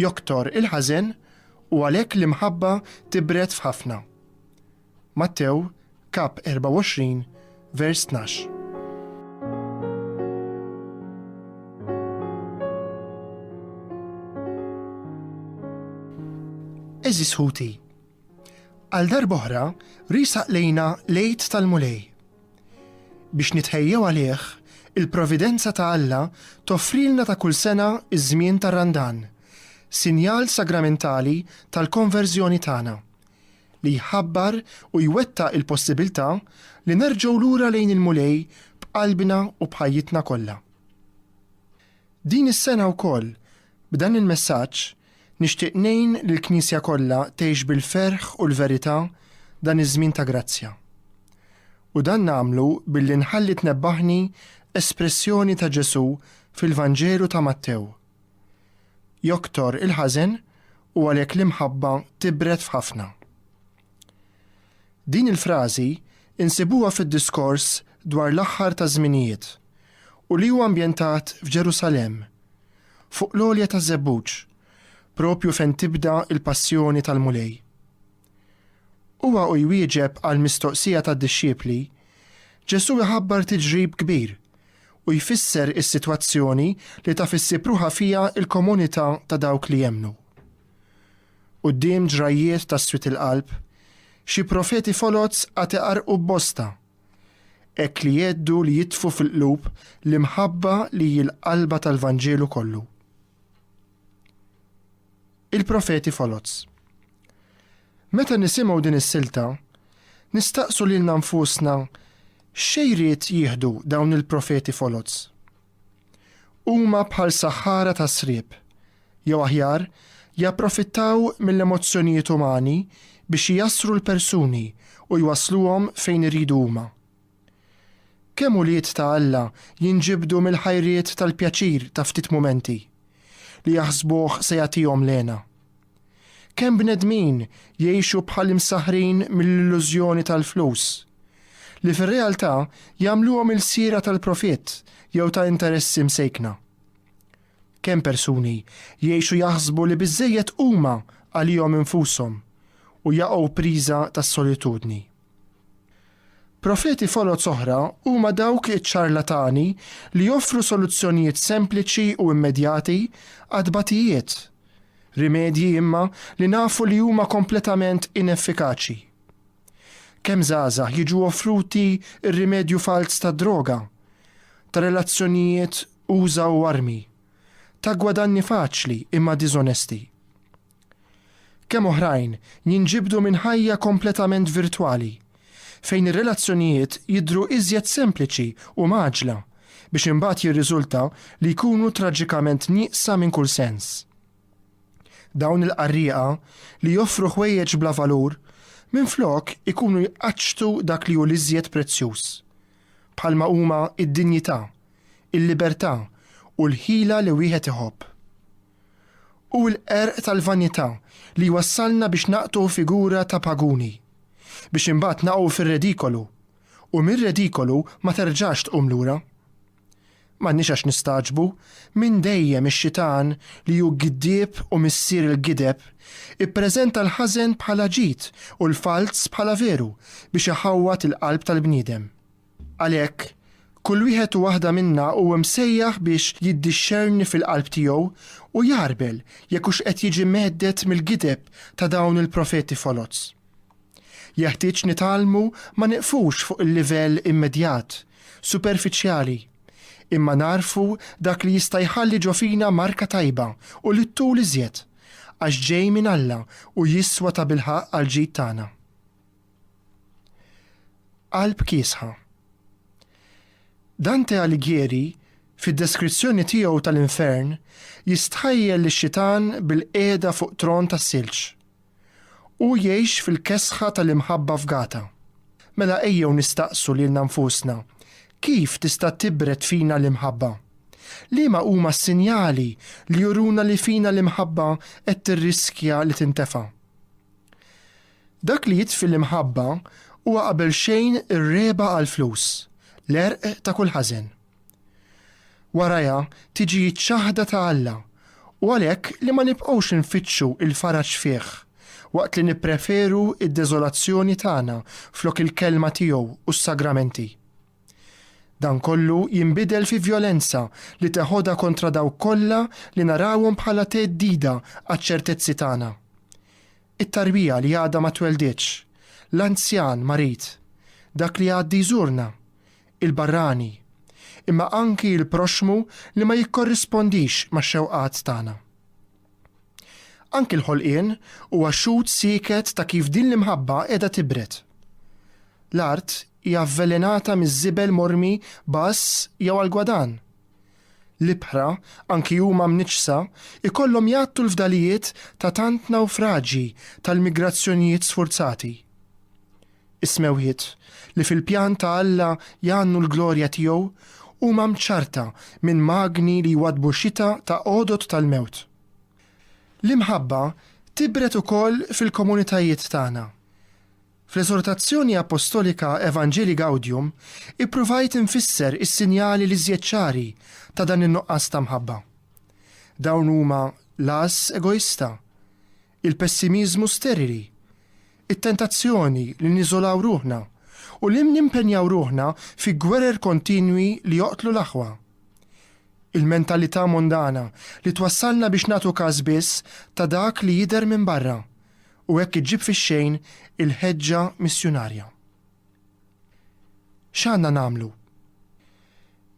Joktor il-ħażen u għalhekk l-imħabba tibred f'ħafna. Mattew, kap 24, vers 12. Eżis ħuti, għal darboħra risaq lejna lejt tal-Mulej. Biex nitħejjew għalih, il-providenza ta' Alla toffrilna ta' kull sena ż-żmien tar-Randan, sinjal sagramentali tal-konverżjoni tagħna, li jħabbar u jwettaq il-possibiltà li nerġgħu lura lejn il-Mulej b'qalbna u b'ħajjitna kollha. Din is-sena wkoll, b'dan il-messaġġ, Nixtieq ngħin lill-Knisja kollha tgħix bil-ferħ u l-verità dan iż-żmien ta' grazzja. U dan nagħmlu billi nħalli tnebbaħni espressjoni ta' Ġesù fil-Vanġelu ta' Mattew, Joktor il-ħażen u għalhekk l-imħabba tibred f'ħafna. Din il-frażi nsibuha fid-diskors dwar l-aħħar taż-żminijiet u li huwa ambjentat f'Ġerusalemm, fuq l-għolja taż-żebbuġ, proprju fejn tibda l-passjoni tal-Mulej. Huwa u jwieġeb għall-mistoqsija tad-dixxiepli, Ġesù jħabbar tiġrib kbir u jfisser is-sitwazzjoni li taf issib ruħha fiha l-komunità ta' dawk li jemmnu. Quddiem ġrajjiet ta' swied il-qalb, xi profeti foloz għad iqarrqu b'bosta. Hekk li jgħeddu li jitfu fil-qlub l-imħabba li hi l-qalba tal-Vanġelu kollu. Il-profeti foloz. Meta nisimgħu din is-silta, nistaqsu lilna nfusna x'xejriet jieħdu dawn il-profeti foloz. Huma bħal saħħara ta' sriep, jew aħjar, japprofittaw mill-emozzjonijiet umani biex ijassru l-persuni u jwassluhom fejn iridu huma. Kemm ulied ta' Alla jinġibdu mill-ħajriet tal-pjaċir ta' ftit mumenti, li jaħsbuh se jagħtihom l-hena. Kemm bnedmin jgħixu bħal imsaħħrin mill-illużjoni tal-flus, li fir-realtà jagħmluhom ilsiera tal-profitt jew ta' interessi msejkna. Kemm persuni jgħixu jaħsbu li biżżejjed huma għalihom infushom u jaqgħu priża tas-solitudni. Profeti foloz oħra huma dawk iċ-ċarlatani li joffru soluzzjonijiet sempliċi u immedjati għat-tbatijiet, rimedji imma li nafu li huma kompletament ineffikaċi. Kemm żgħażagħ jiġu offruti r-rimedju falz tad-droga, ta' relazzjonijiet uża u armi, ta' gwadanni faċli imma diżonesti. Kemm oħrajn jinġibdu minn ħajja kompletament virtwali, fejn ir-relazzjonijiet jidhru iżjed sempliċi u mgħaġġla, biex imbagħad jirriżulta li jkunu traġikament nieqsa minn kull sens. Dawn il-qarrieqa li joffru ħwejjeġ bla valur, minflok ikunu jqaċċtu dak li hu l-iżjed prezzjuż, bħalma huma d-dinjità, il-libertà u l-ħila li wieħed iħobb. Hu l-qerq tal-vanità li jwassalna biex naqtgħu figura ta' paguni, biex imbagħad naqgħu fir-redikolu, u mir-redikolu ma terġax tqum lura. M'għandniex għax nistagħġbu minn dejjem ix-xitan li hu giddieb u missier il-gideb ippreżenta l-ħażen bħala ġid u l-falz bħala veru biex iħawwad il-qalb tal-bniedem. Għalhekk, kull wieħed u waħda minna huwa msejjaħ biex jiddixxerni fil-qalb tiegħu u jagħrbel jekk hux qed jiġi mhedded mill-gideb ta' dawn il-profeti foloz. Jeħtieġ nitgħallmu ma nieqfux fuq il-livell immedjat, superfiċjali, imma nagħrfu dak li jista' jħalli ġo fina marka tajba u li ttul iżjed, għax ġej minn Alla u jiswa tabilħaqq għall-ġid tagħna. Qalb kiesħa. Dante Alighieri, fid-deskrizzjoni tiegħu tal-infern, jistħajjel lix-xitan bil-qiegħda fuq tron tas-silġ. Hu jgħix fil-kesħa tal-imħabba fgata. Mela ejjew nistaqsu lilna nfusna, kif tista' tibred fina l-imħabba? Liema huma s-sinjali li juruna li fina l-imħabba qed tirriskja li tintefa'? Dak li jitfi l-imħabba huwa qabel xejn ir-regħba għall-flus, l-għerq ta' kull ħażen. Warajha tiġi ċ-ċaħda ta' Alla u għalhekk li ma nibqgħux infittxu l-faraġ fih waqt li nippreferu d-deżolazzjoni tagħna flok il-Kelma tiegħu u s-Sagramenti. Dan kollu jinbidel fi vjolenza li teħodha kontra dawk kollha li narawhom bħala theddida għaċ-ċertezzi tagħna. It-tarbija li għadha ma tweldietx, l-anzjan marid, dak li jgħaddi jżurna, il-barrani, imma anki l-proxxmu li ma jikkorrispondix max-xewqat tagħna. Anki l-ħolqien huwa xhud sieket ta' kif din l-imħabba qiegħda tibred. L-art hija avvelenata miż-żibel mormi b'għażż jew għall-gwadann. L-ibħra, anki huma mniġġsa, ikollhom jgħattu l-fdalijiet ta' tant nawfraġji tal-migrazzjonijiet sfurzati. Is-smewwiet, li fil-pjan ta' Alla jgħannu l-glorja tiegħu, huma mċarrta minn magni li jwaddbu xita ta' għodod tal-mewt. L-imħabba tibred ukoll fil-komunitajiet tagħna. Fl-Eżortazzjoni Appostolika Evangelii Gaudium ippruvajt infisser is-sinjali l-iżjed ċari ta' dan in-nuqqas ta' mħabba. Dawn huma l-għażż egoista, il-pessimiżmu sterili, it-tentazzjoni li niżolaw ruħna u li nimpenjaw ruħna fi gwerer kontinwi li joqtlu l-aħwa. Il-mentalità mondana li twassalna biex nagħtu każ biss ta' dak li jidher minn barra, u hekk iġġib fix-xejn il-ħeġġa missjunarja. X'għandna nagħmlu?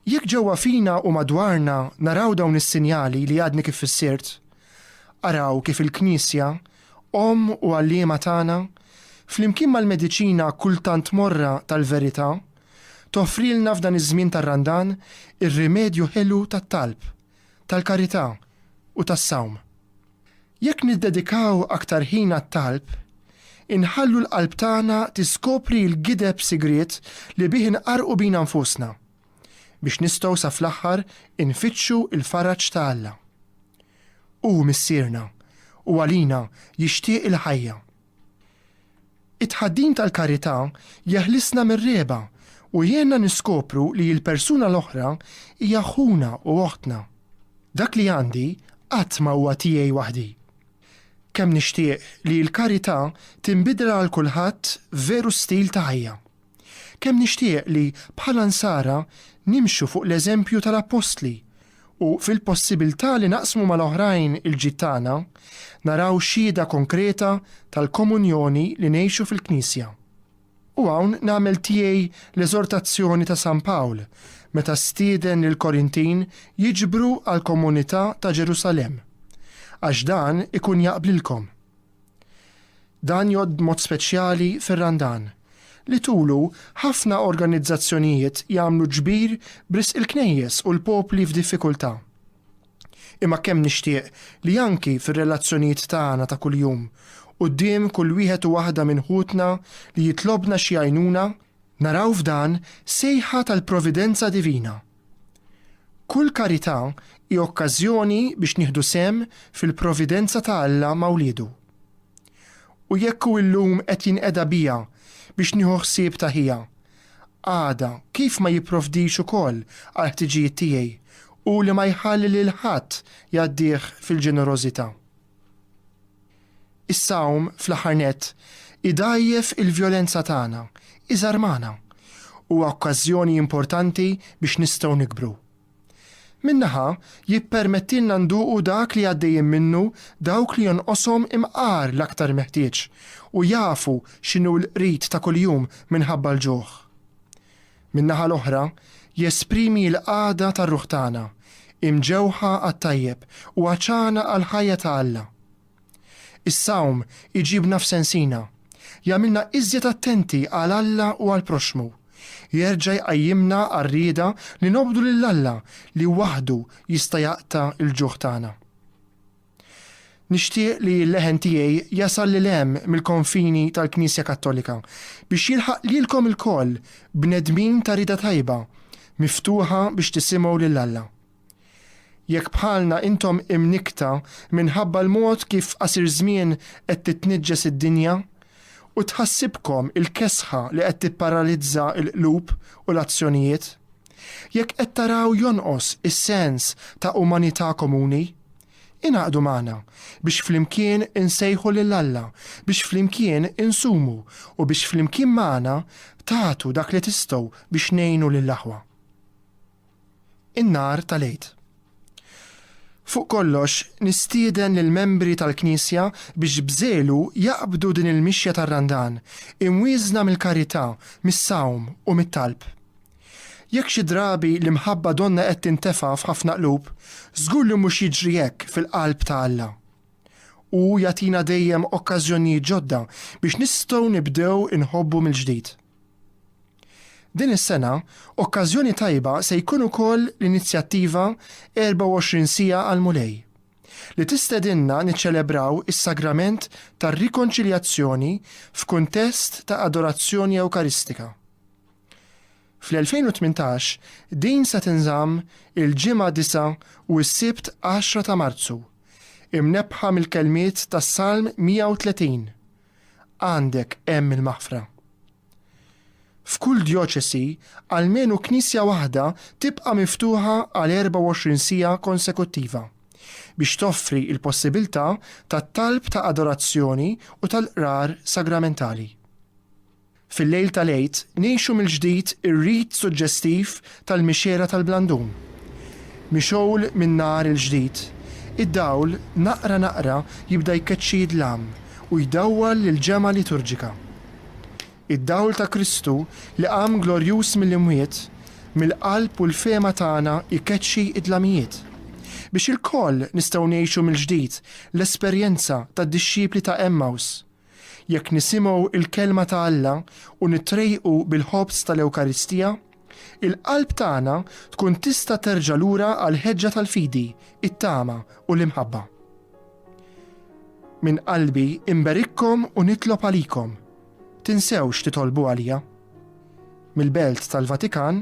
Jekk ġewwa fina u madwarna naraw dawn is-sinjali li għadni kif fissirt, araw kif il-Knisja, Omm u Għalliema tagħna, flimkien mal-mediċina kultant morra tal-verità, toffrilna f'dan iż-żmien tar-Randan ir-rimedju ħelu tat-talb, tal-karità u tas-sawm. Jekk niddedikaw aktar ħin għat-talb, inħallu l-qalb tagħna tiskopri l-gideb sigriet li bih inqarrqu bina nfusna, biex nistgħu sa fl-aħħar infittxu l-faraġ ta' Alla. Hu Missierna, u għalina jixtieq il-ħajja. It-tħaddim tal-karità jeħlisna mir-regħba u jgħinna niskopru li l-persuna l-oħra hija ħuna u oħtna. Dak li għandi qatt ma huwa tiegħi waħdi. Kemm nixtieq li l-karità tinbidel għal kulħadd veru stil ta' ħajja! Kemm nixtieq li, bħala Nsara, nimxu fuq l-eżempju tal-Appostli u, fil-possibiltà li naqsmu mal-oħrajn il-ġid tagħna, naraw xhieda konkreta tal-komunjoni li ngħixu fil-Knisja. U hawn nagħmel tiegħi l-eżortazzjoni ta' San Pawl meta stieden lill-Korintin jiġbru għall-komunità ta' Ġerusalemm, Għax dan ikun jaqblilkom. Dan jgħodd b'mod speċjali fir-Randan, li tulu ħafna organizzazzjonijiet jagħmlu ġbir b'risq il-knejjes u l-popli f'diffikultà. Imma kemm nixtieq li anki fir-relazzjonijiet tagħna ta' kuljum, quddiem kull wieħed u waħda minn ħutna li jitlobna xi għajnuna, naraw f'dan sejħa tal-providenza divina. Kull karità hi okkażjoni biex nieħdu sehem fil-providenza ta' Alla ma' wliedu. U jekk hu llum qed jinqeda bija biex nieħu ħsieb ta' ħija, għada kif ma jipprovdix ukoll għall-ħtiġijiet tiegħi, hu li ma jħalli lil ħadd jgħaddih fil-ġenerożità? Is-Salm, fl-aħħar nett, idgħajjef il-vjolenza tagħna, iżarmana. Huwa okkażjoni importanti biex nistgħu nikbru. Minn naħa, jippermettilna nduqu dak li għaddejjin minnu dawk li jonqoshom imqar l-aktar meħtieġ u jafu x'inhu l-qrid ta' kuljum minħabba l-ġuħ. min-naħa l-oħra, jesprimi l-qagħda tar-ruħ tagħna, imġewħa għat-tajjeb u għatxana għall-ħajja ta' Alla. Is-sawm iġibna f'sensina, jagħmilna iżjed attenti għal Alla u għall-proxxmu, jerġa' jqajjimna għar-rieda li nobdu lil Alla li waħdu jista' jaqta' l-ġuħ tagħna. Nixtieq li l-leħen tiegħi jasal lil hemm mill-konfini tal-Knisja Kattolika biex jilħaq lilkom ilkoll, bnedmin ta' rieda tajba, miftuħa biex tisimgħu lil Alla. Jekk bħalna intom imnikkta minħabba l-mod kif qasir żmien qed titniġġes id-dinja u tħassibkom il-kesħa li qed tipparalizza l-qlub u l-azzjonijiet, Jekk qed taraw jonqos is-sens ta' umanità komuni, ingħaqdu magħna biex flimkien insejħu lil Alla biex flimkien insumu u biex flimkien magħna tagħtu dak li tistgħu biex ngħinu lill-aħwa. In-nhar tal-Għid. Fuq kollox, nistieden lill-membri tal-Knisja biex b'żelu jaqbdu din il-mixja tar-Randan, imwieżna mill-karità, mis-sawm u mit-talb. Jekk xi drabi l-imħabba donnha qed tintefa' f'ħafna qlub, żgur li mhux jiġri hekk fil-qalb ta' Alla. Hu jagħtina dejjem okkażjonijiet ġodda biex nistgħu nibdew inħobbu mill-ġdid. Din is-sena, okkażjoni tajba se jkun ukoll l-inizjattiva 24 Siegħa għall-Mulej, li tistedinna niċċelebraw is-Sagrament tar-Rikonċiljazzjoni f'kuntest ta' adorazzjoni Ewkaristika. Fl-2018, din se tinżamm il-Ġimgħa 9 u s-Sibt 10 ta' Marzu, imnebbħa mill-kelmiet tas-Salm 130, Għandek hemm il-maħfra. F'kull djoċesi, almenu knisja waħda tibqa' miftuħa għal 24 siegħa konsekuttiva, biex toffri l-possibilità tat-talb ta' adorazzjoni u tal-qrar sagramentali. Fil-lejl tal-Għid ngħixu mill-ġdid ir-rit suġġestiv tal-Mixgħela tal-Blandun. Mixgħul min-nar il-ġdid, id-dawl naqra naqra jibda jkeċċi id-dlam u jdawwal l-ġemgħa liturġika. Id-dawl ta' Kristu li qam glorjuż mill-imwiet, mill-qalb u l-fehma tagħna jkeċċi d-dlamijiet, biex ilkoll nistgħu ngħixu mill-ġdid l-esperjenza tad-dixxipli ta' Għemmaws, Jekk nisimgħu l-Kelma ta' Alla u nitrejqu bil-Ħobż tal-Ewkaristija, il-qalb tagħna tkun tista' terġa' lura għall-ħeġġa tal-fidi, it-tama, u l-imħabba. Minn qalbi nberikkom u nitlob għalikom. Tinsewx titolbu għalija. Mill-Belt tal-Vatikan,